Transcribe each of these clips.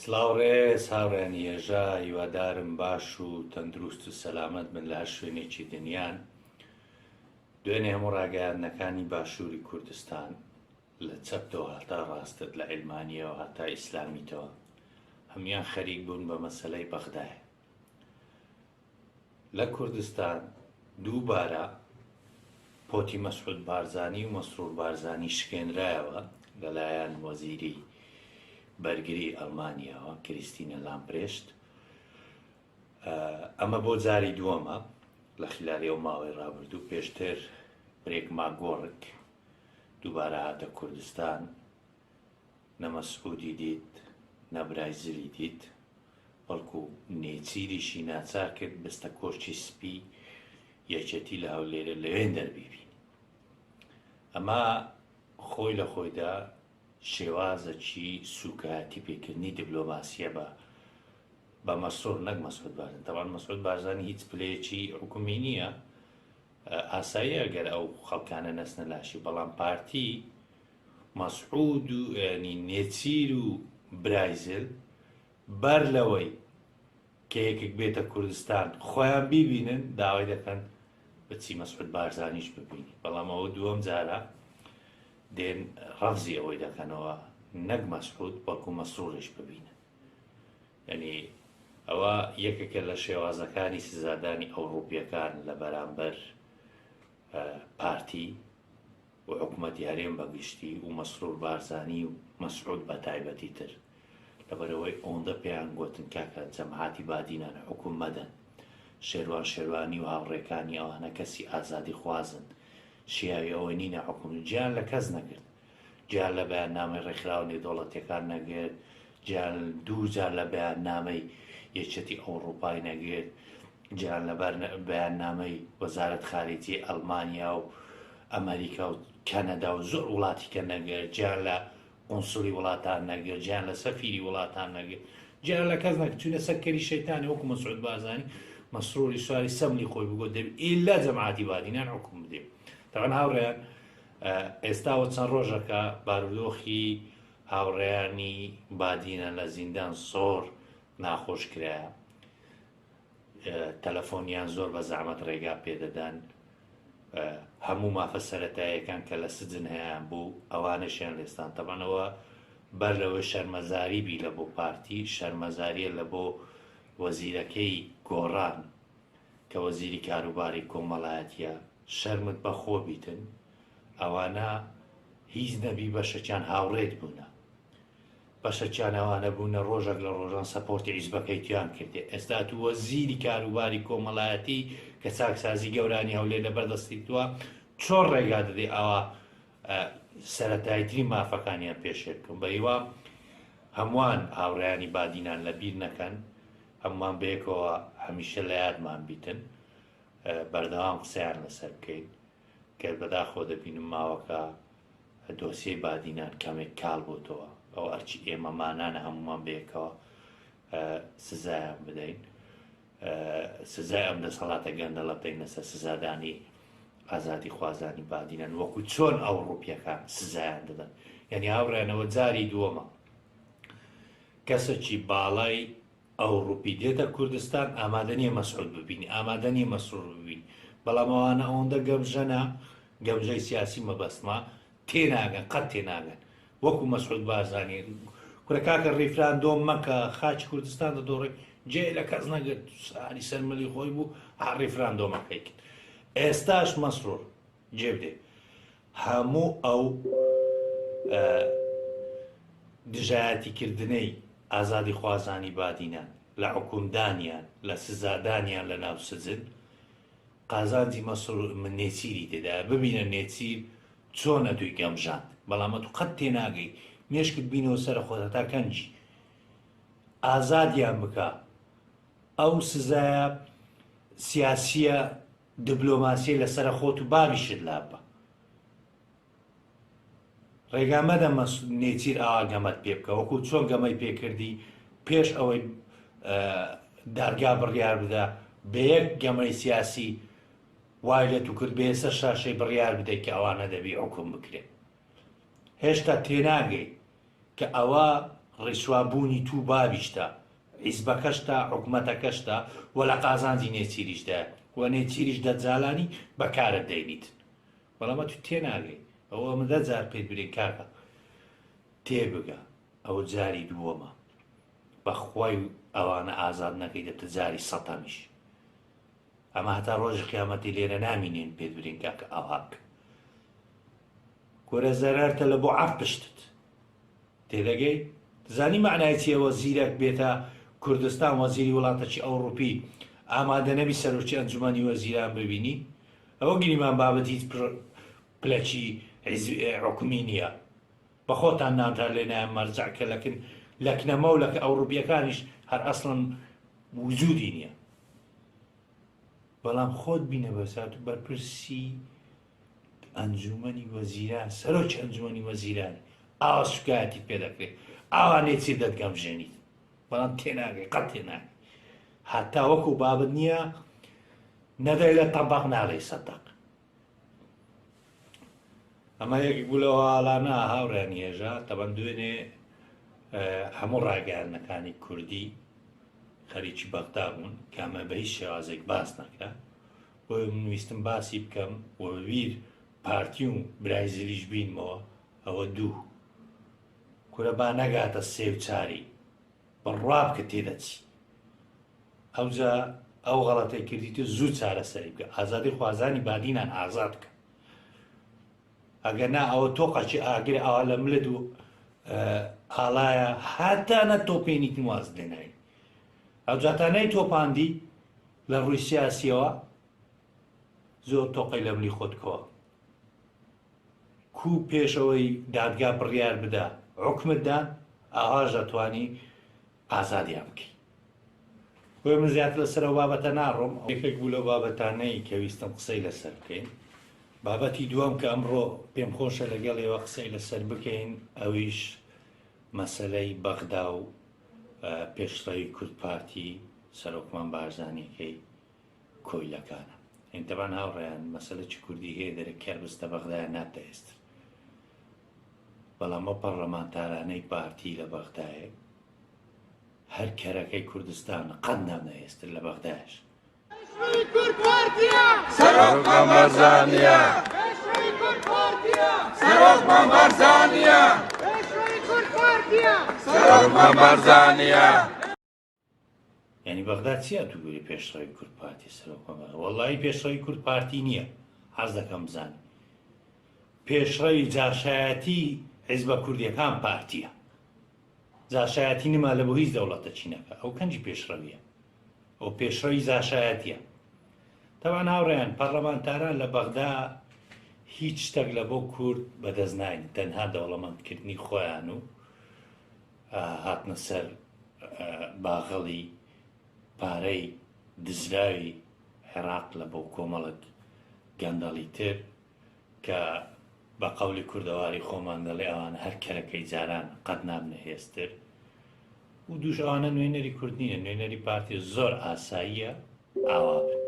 سڵاو ڕێز هاوڕێیان یێژا هیوادارم باش و تەندروست و سەلامەت بن لە هەر شوێنێکی دنیان دوێنێ هەموو ڕاگەیاندنەکانی باشووری کوردستان لە چەپتەوە هەتا ڕاستت لە عیلمانیەوە هەتا ئیسلامیتەوە هەموان خەریک بوون بە مەسەلەی بەغدایە لە کوردستان دووبارە پۆتی مەسعود بارزانی و مەسرور بارزانی شکێنرایەوە لەلایەن وەزیری بەرگری ئەلمانیاوە کریستینە لامپرێشت ئەمە بۆ جاری دووەمە لە خلالی و ماوەی ڕابردوو پێشتر برێک ماگۆڕک دووبارە هاتە کوردستان نە مەسعودی دیت نە برای زلی دیت بەڵکو نێچیریشی ناچار کرد بستە کۆشکی سپی یەکێتی لە هەولێرە لەوێن دەربیبین ئەمە خۆی لە خۆیدا شێوازەکی سوکایەتی پێکردنی دیبلۆماسیە بە بە مەسرور نەک مەسعود بارزانی تەوان مەسعود بارزانی هیچ پلەیەکی حکومی نییە ئاساییە گەر ئەو خەڵکانە نەسنە لاشی بەڵام پارتی مەسعود و یانی نێچیر و برایزل بەر لەوەی کە یەکێک بێتە کوردستان خۆیان بیبینن داوای دەکەن بچی مەسعود بارزانیش ببینی بەڵام ئەوە دووەم جارە دێن ڕەفزی ئەوەی دەکەنەوە نەک مەسعود بەڵکو مەسرورش ببینن یعنی ئەوە یەکێکە لە شێوازەکانی سزادانی ئەوڕوپیەکان لە بەرامبەر پارتی و حکومەتی هەرێم بە گشتی و مەسرور بارزانی و مەسعود بە تایبەتی تر لەبەرئەوەی ئەوەندە پێیان گۆتن کاکە جەماعەتی بادینان حوکم مەدەن شێروان شێروانی و هاوڕێکانی ئەوانە کەسی ئازادی خوازن شیاوی ئەوە نینە حوکم جیان لە کەس نەگرت جیان لە بەیاننامەی ڕێکخراوە نێودەوڵەتیەکان نەگرت جیان دوو جار لە بەیاننامەی یەکێتی ئەوڕوپای نەگرت، جیان لە بەیاننامەی وەزارەت خارجیەی ئەڵمانیا و ئەمەریکا و کەنەدا و زۆر وڵاتیکە نەگرت، جیان لە قونسڵی وڵاتان نەگرت، جیان لە سەفیری وڵاتان نەگرت، جیان لە کەس نەگرت، چونە سەر کەری شەیتانێ وەکو مەسعود بارزانی مەسروری سواری سەملی خۆی بگۆ دەبی ئیلا جەماعاتی بادینان حکوم بدێ. تەبەن هاوڕێیان ئێستاوە چەند ڕۆژەکە بارودۆخی هاوڕێیانی بادینە لە زیندان زۆر ناخۆش کرایە تەلەفۆنیان زۆر بە زەحمەت ڕێگا پێدەدان هەموو مافە سەتایەکان کە لە سجن هەیەیان بوو ئەوانەشیان لێستان تەبانەوە بەر لەوە شەرمەزاری بی لە بۆ پارتی شەرمەزاریە لە بۆ وەزیرەکەی گۆڕان کە وەزیری کاروباری کۆمەڵایەتە شەرمت بەخۆ بیتن ئەوانە هیچ نەبی بەشەکیان هاوڕێت بوونە بەشەکیان ئەوانە بوونە ڕۆژەک لە ڕۆژان سەپۆرتی عیزبەکەی تویان کردێ ئێستا تو وەزیری کاروباری کۆمەڵایەتی کە چاکسازی گەورانی هەولێر لە بەردەستی توە چۆن ڕێگا دەدەی ئەوە سەتایتری مافەکانیان پێشێ بکەم بە هیوا هەمووان هاوڕیانی بادینان لە بیر نەکەن هەمومان بەیەکەوە هەمیشە لە یادمان بیتن بەردەوام قسەیان لەسەر بکەین گەر بەداخەوە دەبینم ماوەکە دۆسیەی بادینان کەمێک کاڵ بۆتەوە ئەو ئەرچی ئێمە مانانە هەمومان بەیەکەوە سزایان بدەین سزای ئەم دەسەڵاتە گەندەڵە پێنەسە سزادانی ئازادی خوازانی بادینان وەکو چۆن ئەو ڕوپیەکان سزایان دەدەن یعنی هاوڕێنەوە جاری دووەمە کەسەکی باڵای ئەوڕوپی دێتە کوردستان ئامادە نیە مەسعود ببینی ئامادە نیە مەسرور ببینی بەڵام ئەوانە ئەوەندە گەمژەنە گەمژەی سیاسی مەبەستمە تێناگەن قەت تێناگەن وەکو مەسعود بارزانی کورە کاکە ڕیفراندۆم مەکە خاچی کوردستان دەدۆڕی جێ لە کەس نەگرت ساری سەر ملی خۆی بوو ها ڕیفراندۆمەکەی کرد ئێستاش مەسرور جێبدێ هەموو ئەو دژایەتیکردنەی ئازادیخوازانی بادینان لە حوکمدانیان، لە سزادانیان لە ناو سجن، قازانجی مەسرور من نێچیری تێدایە، ببینە نێچیر چۆن ئەتووی گەمژاند، بەڵام ئەتوو قەت تێناگەی، مێشکت بینەوە سەر خۆت هەتا کەنجی، ئازادیان بکە، ئەو سزایە سیاسییە دبلۆماسیە لەسەرە خۆت و بابیشت لاببە ڕێگا مەدە مەس نێچیر ئاوا گەمەت پێ بکە وەکو چۆن گەمەی پێکردی پێش ئەوەی دادگا بڕیار بدە بە یەک گەمەی سیاسی وای لە تو کرد بێسە شاشەی بڕیار بدەیت کە ئەوانە دەبی حکوم بکرێت هێشتا تێناگەی کە ئەوە ڕیسوا بوونی توو باویشتە، حیزبەکەشتە، حکومەتەکەشتە و لە قازانجی نێچیریشدایە و نێچیریش دەجالانی بە کارت دەینیتن. بەڵام ئەتوو تێناگەی. ئەوە ئەمە دە جار پێت برێن کاکە تێبگە. ئەوە جاری دووەمە. بە خوای ئەوانە ئازاد نەکەی دەبتە جاری سەتەمیش. ئەمە هەتا ڕۆژی قیامەتی لێرە نامینێن پێت برێن کاکە ئاوهاک. کورە زەرەر تە لە بۆ عەف پشتت تێدەگەی دزانی مەعنای چیە وە زیرەک بێتە کوردستان وەزیری وڵاتەکی ئەوڕوپی ئامادە نەبی سەرۆکی ئەنجومەنی وەزیران ببینی ئەوە گریمان بابەت هیچ پلەکی عکمی نییە بە خۆتان نانتان لێ نایە مەرجع کە لەکن لەکنەمە و لەکە ئەوڕوپیەکانیش هەر ئەسڵن وجودی نییە بەڵام خۆت بینە بەسات بەرپرسی ئەنجوومەنی وەزیران، سەرۆکی ئەنجوومەنی وەزیران ئاوا سووکایەتیت پێ دەکرێت، ئاوا لێچیر دەتگەمژێنیت، بەڵام تێناگەی، قەت تێناگەی. هەتا وەکو بابت نییە، نەدەی لە تەبەق نادەی سەدەق. ئەمە یەکێک بوو لەوە ئاڵانە هاوڕیان هێژا، تەبەن دوێنێ هەموو ڕاگەیاندنەکانی کوردی خەریکی بەغدا بوون کامە بە هیچ شێوازێک باس نەکرا بۆیە من ویستم باسی بکەم و بە بیر پارتی و برای زلیش بینمەوە ئەوە دوو کورە با نەگاتە سێ و چاری بڕوا بکە تێدەچی ئەوجا ئەو غەڵەتەی کردیت و زوو چارەسەری بکە ئازادی خوازانی بادینان ئازاد بکە ئەگەر نا ئەوە تۆقەکی ئاگر ئاوا لە ملت و ئاڵایە هاتانە تۆپێنیت واز دێنای ئەوجاتانەی تۆپاندی لە ڕووی سیاسیەوە زۆر تۆقەی لە ملی خۆت کەوە کوو پێش ئەوەی دادگا بڕیار بدا عکمت دا ئاواش ئەتوانی ئازادیان بکەی بۆ من زیاتر لەسەر ئەو بابەتە ناڕۆم یەکێک بوو لەو بابەتانەی کە ویستم قسەی لەسەر بکەین بابەتی دووەم کە ئەمڕۆ پێم خۆشە لەگەڵ ئێوە قسەی لەسەر بکەین ئەویش مەسەلەی بەغدا و پێشڕەوی کورد پارتی سەرۆکمان بارزانیەکەی کۆیلەکانە یعنی تەبان هاوڕێیان مەسەلە چ کوردی هەیە دەرە کەر بستە بەغدایە نابتە ئێستر بەڵام ئەو پەڕلەمانتارانەی پارتی لە بەغدایە هەر کەرەکەی کوردستان قەت نابنە ئێستر لە بەغدایش یانی بەغدا چی ئەتووری پێشڕەوی کورد پارتی سەرۆکمان بەغدا وەڵی پێشڕەوی کورد پارتی نییە حەز دەکەم بزانم پێشڕەوی جاشایەتی حیزبە کوردیەکان پارتیە جاشایەتی نما لە بۆ هیچ دەوڵەتە چینەکە ئەو کەنجی پێشڕەویە ئەو پێشڕەوی جاشایەتیە تەوان هاوڕێیان پەرلەمانتاران لە بەغدا هیچ شتێک لە بۆ کورد بەدەست ناین تەنها دەوڵەمەندکردنی خۆیان و هاتنە سەر باغەڵی پارەی دزراوی عێراق لە بۆ کۆمەڵک گەندەڵی تر کە بە قەولی کوردەواری خۆمان دەڵێ ئەوانە هەر کەرەکەی جاران قەت نابنە هێستر و دووش ئەوانە نوێنەری کورد نییە نوێنەری پارتی زۆر ئاساییە ئاوا بن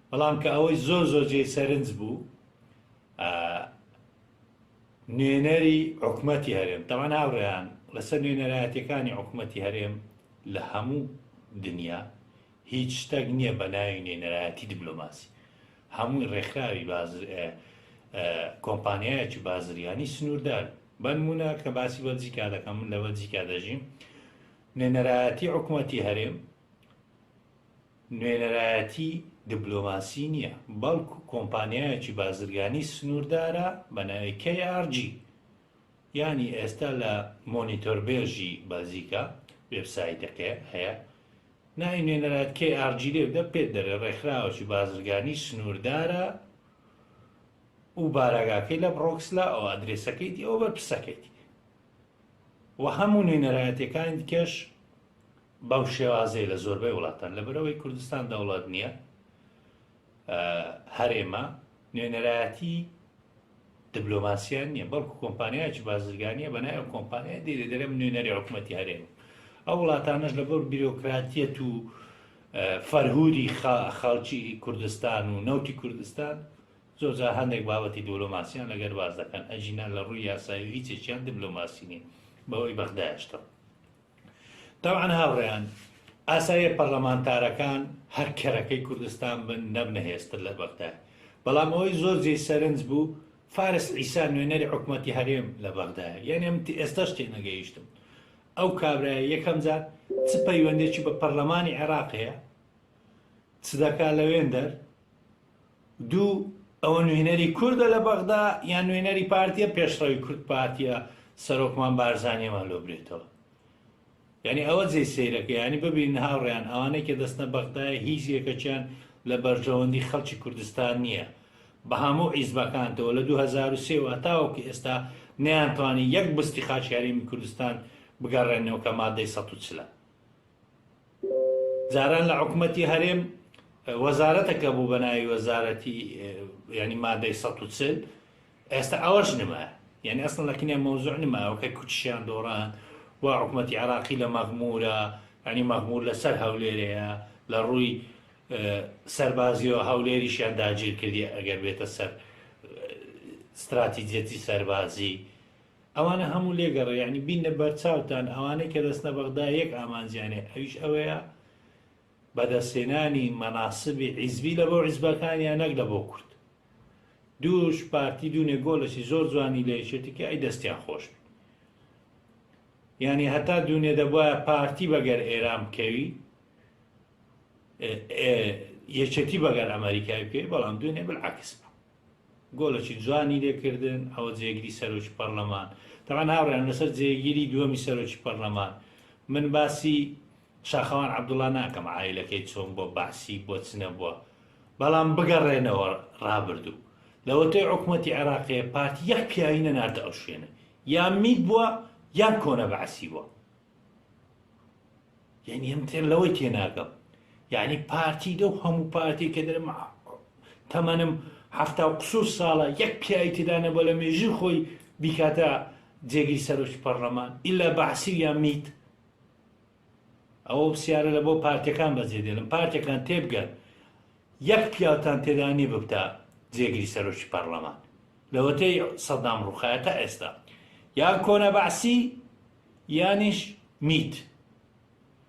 بەڵام کە ئەوەی زۆر زۆر جێی سەرنج بوو نوێنەری حکومەتی هەرێم تەوان هاوڕێیان لەسەر نوێنەرایەتەکانی حکوومەتی هەرێم لە هەموو دنیا هیچ شتەک نیە بەناوی نوێنەرایەتی دبلۆماسی هەمووی ڕێکخراوی بازر کۆمپانیایەکی بازریانی سنووردار بەنمونە کە باسی بەلجیکا دەکەم من لە بەلجیکا دەژیم نوێنەرایەتی حکوومەتی هەرێم نوێنەرایەتی دبلۆماسی نییە بەڵک کۆمپانیایەکی بازرگانی سنووردارە بە ناوی KRG ینی ئێستا لە مۆنیتۆربێژی بەلجیکا وێبسایتەکە هەیە ناوی نوێنەرایەت کەی ئار جی لێو دە پێت دەرێ ڕێکخراوەکی بازرگانی سنووردارە و باراگاکەی لە بڕۆکسلا ئەو ئەدرێسەکەیتی ئەو بە پسەکەیتی و هەموو نوێنەرایەتەکانی دیکەش بەو شێوازەیە لە زۆربەی وڵاتان لە بەرەوەی کوردستان دەوڵات نییە هەرێمە نوێنەرایەتی دبلۆماسیان نییە بەڵکو کۆمپانیایکی بازرگانیە بە نایە کۆمپانیای دێ دەرم نوێنەری حکوومەتتی هەرێم ئەو وڵاتانش لەگەڵ بیرۆکراتیەت و فەرهوری خەڵکی کوردستان و نەوتی کوردستان زۆرجار هەندێک بابەتی دۆلۆماسیان لەگەر باز دەکەن ئەجینا لە ڕووی یاسایی هیچێکیان دبلۆماسی نیە بەوەی بەغدایشتەوە تەبعەن هاوڕێیان ئاساییە پەڕلەمانتارەکان هەر کەرەکەی کوردستان بن نەبنە هێزتر لە بەغدا، بەڵام ئەوەی زۆر جێی سەرنج بوو فارس عیسا نوێنەری حکومەتی هەرێم لە بەغدایە، یانی من تە ئێستاش تێنەگەیشتم ئەو کابرایە یەکەم جار چ پەیوەندێکی بە پەڕلەمانی عێراق هەیە؟ چ دەکا لەوێندەر؟ دوو، ئەوە نوێنەری کوردە لە بەغدا یان نوێنەری پارتیە، پێشڕەوی کورد پارتیە، سەرۆکمان بارزانیەمان لۆ برێتەوە. یانی ئەوە جێی سەیرەکە یانی ببینن هاوڕێیان ئەوانەی کە دەستنە بەغدایە هیچ یەکەکیان لە بەرژەوەندی خەڵکی کوردستان نییە بە هەموو عیزبەکانتەوە لە 2023 و هەتاوەکو ئێستا نەیانتوانی یەک بستی خاکی هەرێمی کوردستان بگەڕێنەوە کە مادەی 140ە. جاران لە حکومەتی هەرێم وەزارەتەکە بوو بە ناوی وەزارەتی ینی مادەی 140 ئێستا ئەوەش نمە یعنی ئەسڵ لەکنێ مەوزوع نماوەکە کوچیان دۆڕان و حکومەتی عراقی لە مەغمورە ینی مەغمور لەسەر هەولێرەیە لە ڕووی سەربازیەوە هەولێریشیان داگیر کردی ئەگەر بێتە سەر استراتیجەتی سەربازی ئەوانە هەموو لێگەڕێ یانی بینە بەرچاوتان ئەوانەی کە دەستنە بەغدا یەک ئامانجیانێ ئەویش ئەوەیە بەدەستێنانی مەناسبی عیزبی لە بۆ عیزبەکانیان نەک لە بۆ کورد دووش پارتی دوونێ گۆلەشی زۆر جوانی لە یەکێتی کە ئەی دەستیان خۆش بی یعنی هەتا دوونێ دەبواە پارتی بەگەر ئێران بکەوی یەکێتی بەگەر ئەمریکای بکەوی بەڵام دوێنێ بالعکس بوو گۆلەکی جوانی لێ کردن ئەوە جێگری سەرۆکی پەڕلەمان تەبان هاوڕێیان لەسەر جێگیری دووەمی سەرۆکی پەڕلەمان من باسی شاخەوان عەبدوڵا ناکەم عایلەکەی چۆن بۆ بەعسی بۆ چنەبووە بەڵام بگەڕێنەوە ڕابردوو لەوەتەی عکومەتی عێراقێ پارتی یەک پیاوی نەناردە ئەو شوێنە یان میت بووە یان کۆنە بەعسی بووە یعنی ئەم تێر لەوەی تێناگەم یعنی پارتی دەو هەموو پارتی کە دەرم تەمەنم هەفتا و قسوور ساڵە یەک پیاوی تێدانە بە لە مێژی خۆی بیکاتە جێگری سەرۆکی پەرلەمان ئیلا بەعسی یا میت ئەوە سیارە لە بۆ پارتەکان بەجێ دێلم پارتەکان تێبگەن یەک پیاوتان تێدانی ببتە جێگری سەرۆکی پەرلەمان لەوەتەی سەدام ڕوخایەتە ئێستا یان کۆنە بەعسی یانیش میت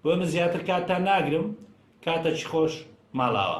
بۆیە من زیاتر کاتتان ناگرم کاتەچی خۆش ماڵاوا.